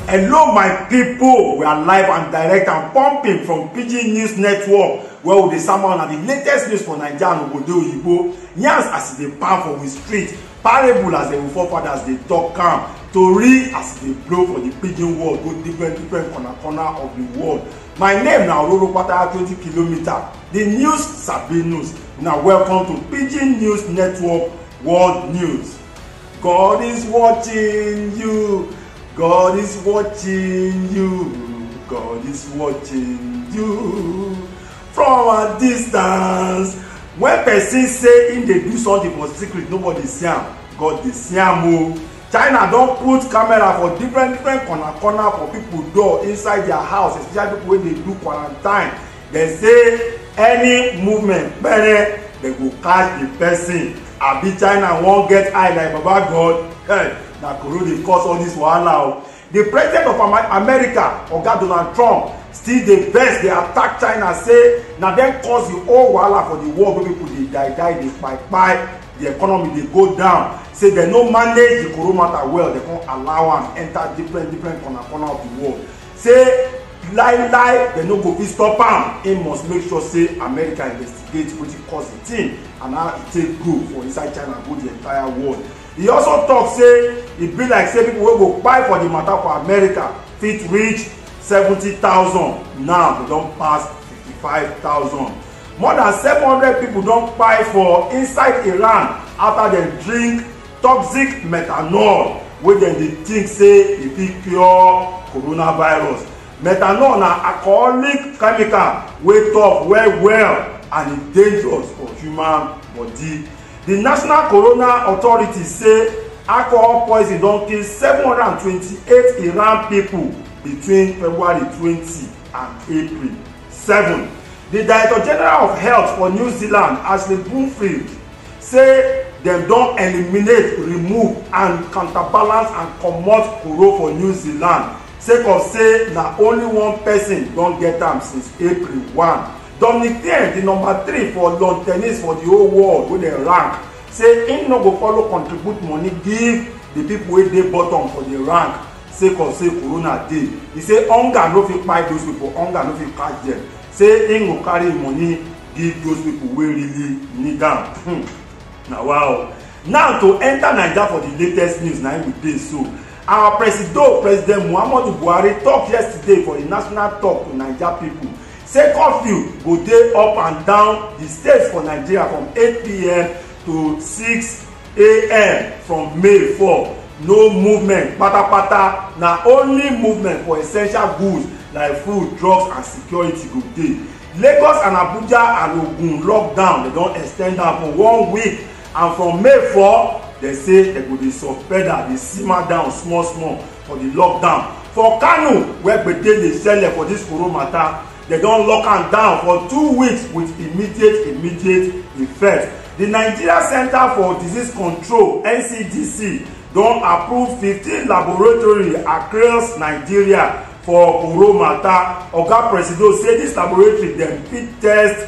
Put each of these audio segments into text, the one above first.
Hello my pipo, we are live and direct and pumping from Pidgin News Network where we dey sama una the latest news for Naija and obodo oyibo. Yans as e dey pound for we street, parable as dem forefathers dey talk am, tori as e dey blow for the pidgin world go different different corner corner of the world. My name na Ororokpata 20 kilometer. The news sabi news. Una welcome to Pidgin News Network World News. God is watching you. God is watching you. God is watching you. From a distance. When person say im dey do something for secret, nobody see am. God dey see am o. china don put camera for different different corner corner for people door inside their house especially people wey dey do quarantine dem say any movement pere dem go catch the person abi china wan get eye like baba god hey, na corona dey cause all this wahala o di president of america oga donald trump still dey vex dey attack china say na dem cause di whole wahala for di world wey pipo dey die die dey kpai kpai di economy dey go down say dem no manage di corona matter well dem come allow am enter different different corner corner of di world say lie lie dem no go fit stop am im must make sure say america investigate wetin cause di thing and how e take grow for inside china go di entire world e also tok say e be like say pipo wey go kpai for di matter for america fit reach 70000 now dem don pass 55000 more dan 700 pipo don kpai for inside iran afta dem drink toxic methanol wey dem dey think say e fit cure coronavirus methanol na alcoholic chemical wey tough well well and e dangerous for human body Di National Corona Authority say alcohol poison don kill 728 Iran pipo between February 20 and April 7. Di Director General of Health for New Zealand, Ashley Bloomfield, say dem don eliminate, remove and counterbalance and comot koro for New Zealand sake of say na only one pesin don get am since April 1. Dominic Thiem, di number three for lawn tennis for di whole world wey dem rank, say im no go follow contribute money give di pipo wey dey bottom for di rank sake of say corona dey. E say hunger no fit kpai those pipo, hunger no fit catch dem, say im go carry im money give those pipo wey really need am. Hmm. Na wa o. Now to enta Naija for di latest news na im we dey so. Our presido, President Muhammadu Buhari tok yesterday for di national tok to Naija pipo. say curfew go dey up and down di states for nigeria from 8pm to 6am from may 4 no movement patapata na only movement for essential goods like food drugs and security go dey lagos and abuja and ogun lockdown dem don extend am for one week and from may 4 dem say dem go dey suspend am dey simmer down small small for di lockdown for kano wey gbege dey sell for dis koro matter dem don lock am down for two weeks with immediate immediate effect di nigeria center for disease control ncdc don approve fifteen laboratory across nigeria for koro matter oga presido say dis laboratory dem fit test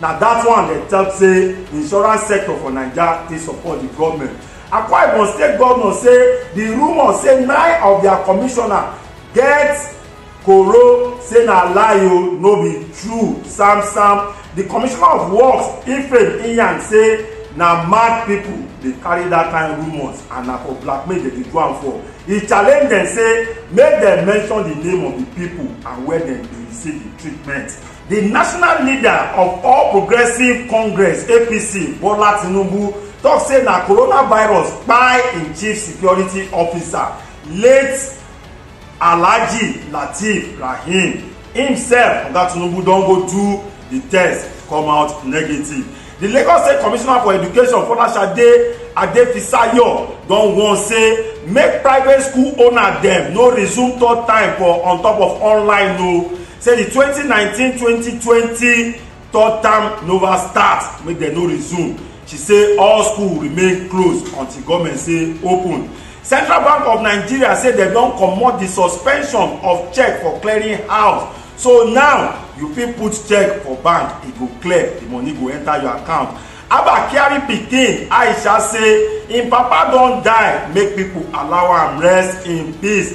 na that one dem tell say the insurance sector for naija dey support the government akwa ibom state governor say the rumour say nine of their commissioner get koro say na lie o no be true sam sam the commissioner of works ifeanyi iyan say na mad people dey carry that kind rumours and na for blackmail dem dey do am for e challenge dem say make dem mention the name of the people and where dem dey receive the treatment The national leader of All Progressive Congress APC, Bola Tinubu, talk say na coronavirus kpai im chief security officer, late Alhaji Lateef Rahim. Himself, Oga Tinubu don go do the test, come out negative. The Lagos State Commissioner for Education, Folashade Adefisayo, don warn say make private school owner dem no resume third time for on top of online o. No say di twenty nineteen twenty twenty third term nova start make dem no resume she say all school remain closed until goment say open central bank of nigeria say dem don comot di suspension of check for clearing house so now you fit put check for bank e go clear di money go enter your account abba kyari pikin aisha say im papa don die make pipo allow am rest in peace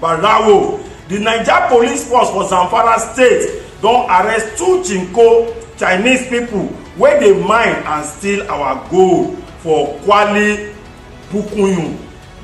barawo di naija police force for zamfara state don arrest two chinko chinese pipo wey dey mine and steal our gold for kwali bukunyun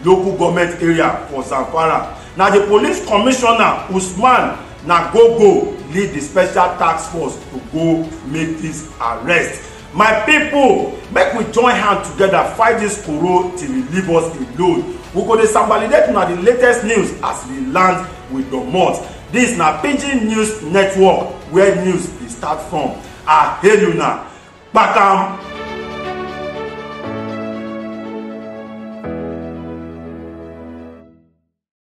local goment area for zamfara na di police commissioner usman nagogo lead di special task force to go make dis arrest my pipo make we join hand togeda fight dis koro till e leave us alone we go dey sambalidate una di latest news as we land we domot dis na pidgin news network where news dey start from i hail una kpakam